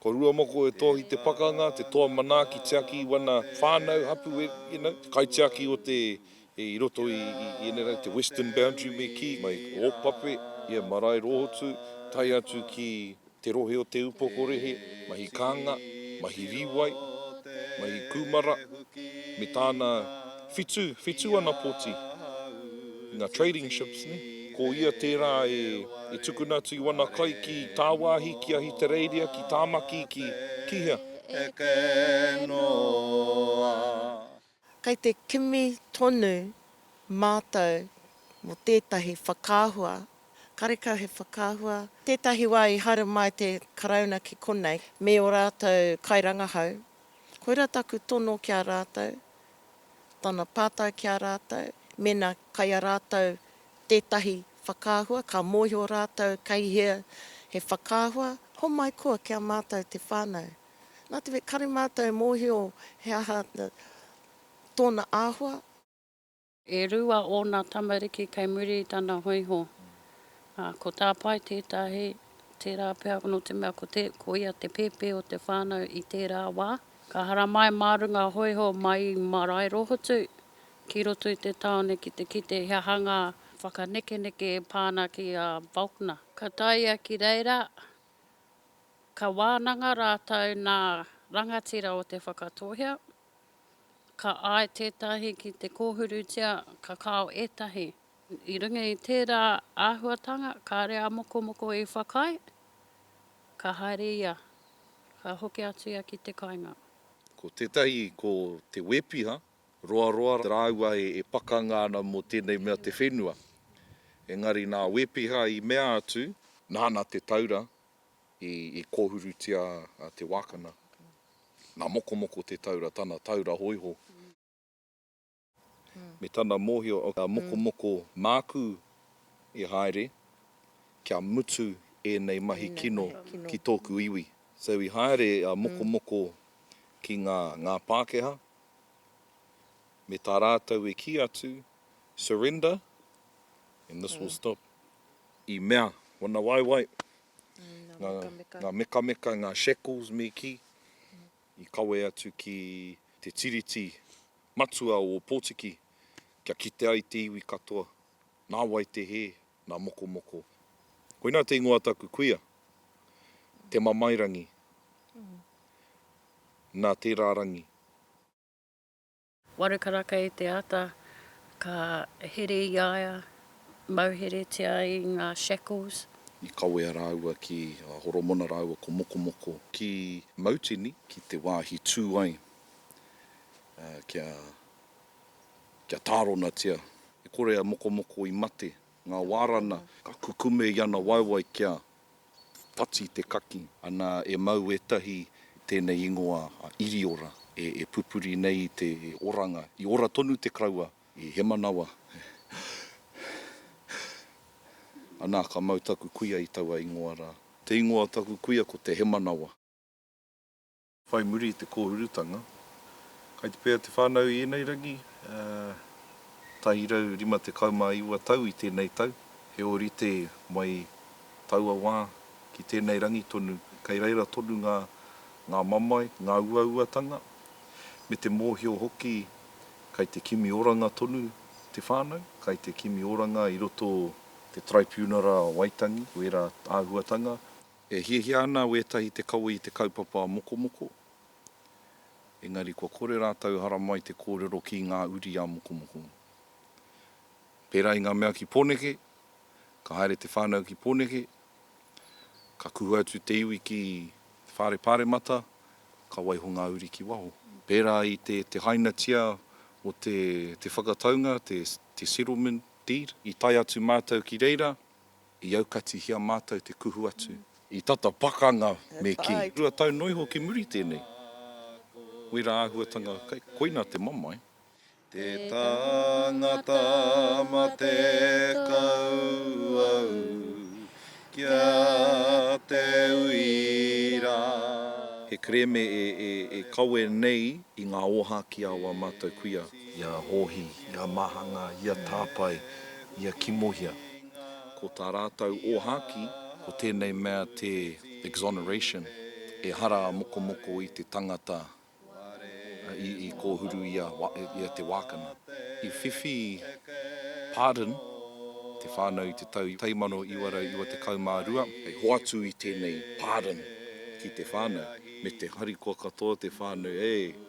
Ko Ruamoko e toa ki te pakanga, te toa manaaki tiaki i wana whanau hapu, you know, te kaitiaki o te, i roto i enei rau, te Western Boundary me ki, mai Opape, ia marae rohotu, tae atu ki te rohe o Te Upokorehe, mahi kanga, mahi riwai, mahi kumara, me tana. Whitu, whitu ana poti, nga trading ships, ne? Ko ia tera e tukuna atu i wana kai ki Tawahi, ki Ahitereiria, ki Tamaki, ki, ki hea? Eke noa. Kei te kimi tonu matou mo tetahi whakaahua, karekau he whakaahua, tetahi wa i haere mai te Karauna ki konei, me o ratou kairangahau. Koira taku tono ki a ratou, tana pātai ki a rātou, mēnā kai a rātou tētahi whakaahua, ka mōhio rātou kei hea he whakaahua, homai koa ki a mātou te whānau. Nā te mea, kare mātou e mōhio he aha tōna āhua. E rua ōna tamariki kei muri i tana hōiho, ā, ko Tāpae tētahi, tērā pea nō te mea ko ia te pēpē o te whānau i tērā wā. Ka haramai mā runga hōiho mai i Maraerohotu ki roto i te tāone ki te kite he aha ngā whakanekeneke e pā ana ki a Volkner. Ka tae ia ki reira, ka wānanga rātou nā rangatira o Te Whakatōhea. Ka āe tētahi ki te kōhurutia, ka kao ētahi. I runga i tērā āhuatanga, kāre a Mokomoko i whakaae, ka haere ia, ka hoki atu ia ki te kainga. Ko tētahi ko Te Wēpiha, Roaroa rāua e pakanga ana mō tēnei mea te whenua. Engari nā Wēpiha i mea atu, nāna te taura i kōhurutia te wākana, nā Mokomoko te taura, tana taura hōiho. me tana mōhio o kia mokomoko māku e haere kia mutu ēnei mahi kino ki tōku iwi. So i haere a Mokomoko ki ngā ngā Pākehā me tā rātou e kī atu surrender and this will stop i mea wana waewae ngā ngā mekameka ngā shackles me kī i kawe atu ki te tiriti Matua o Ōpōtiki, kia kite ai te iwi katoa, nā wai te hē, nā mokomoko. Koinā te ingoa taku kuia, Te Mamairangi, nā tērā rangi. Waru karaka i te ata, ka here i a ia, mauheretia i ngā shackles. I kawea rāua ki a Horomona rāua ko Mokomoko. Ki Mautini, ki te wāhi tū ai kia kia tāronatia. E kore a Mokomoko i mate, ngā wārana, ka kukume i ana waewae kia whati te kaki. Ana e mau ētahi tēnei ingoa a Iriora e pupuri nei i te oranga. I ora tonu te kraua i Hemanawa. Ana ka mau taku kuia i taua ingoa rā. Te ingoa o taku kuia ko te Hemanawa. Whai muri i te kōhurutanga, kai te pēhea te whānau i ēnei rangi? Tahi rau rima tekau mā iwa tau i tēnei tau, he ōrite mai taua wā ki tēnei rangi tonu, kei reira tonu ngā ngā mamae, ngā uauatanga, me te mōhio hoki kai te kimi oranga tonu te whānau, kai te kimi oranga i roto te Taraipiunara Waitangi, wērā āhuatanga, E hiahia ana wētahi te kawe i te kaupapa mokomoko, engari kua kore rātou haramai te kōrero ki ngā uri a mokomoko. Pērā i ngā mea ki Pōneke, ka haere te whānau ki Pōneke, ka kuhu atu te iwi ki te whare Pāremata, ka waiho ngā uri ki waho. Pērā i te te hainatia o te te whakataunga, te settlement deed, i tae atu mātou ki reira, I aukatihia mātou te kuhu atu. I tata pakanga me kī. Rua tau noa iho ki muri tēnei. Wera āhuatanga kei, koina te mamae. Te tangata matekau au kia te uira. He kerēme e kawe nei i ngā ōhākī a wā mātou kuia. Ia Hōhi, ia Mahanga, ia Tāpae, ia Kimohia. Ko tā rātou ōhākī, ko tēnei mea te exoneration, ehara a mokomoko i te tangata i kōhuru i a Te Wākana. I whiwhi pardon te whānau i te tau 1992. Hei hoatu i tēnei pardon ki te whānau, me te harikoa katoa te whānau, e!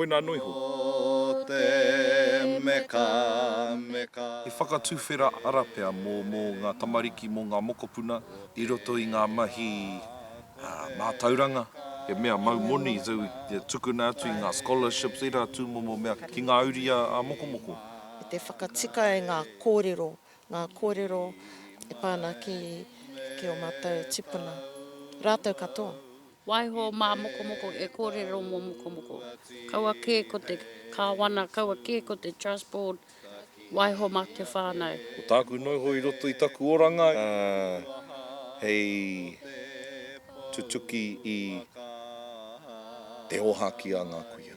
Koinā nui ho. Ko te mekameka. He whakatuwhera arapea mō mō ngā tamariki, mō ngā mokopuna. I roto i ngā mahi mātauranga. He mea mau moni te tukuna atu i ngā scholarships, ērā tūmomo mea ki ngā uri ā-mokomoko. I te whakatika i ngā kōrero, ngā kōrero e pā ana ki ō mātou tipuna, rātou katoa. Waiho mā Mokomoko e kōrero mō Mokomoko. Kaua kē ko te Kāwana, kaua kē ko te Trust Board, waiho mā te whānau. Ko tāku noiho i roto i taku oranga hei tutuki i te ōhākī a ngā kuia.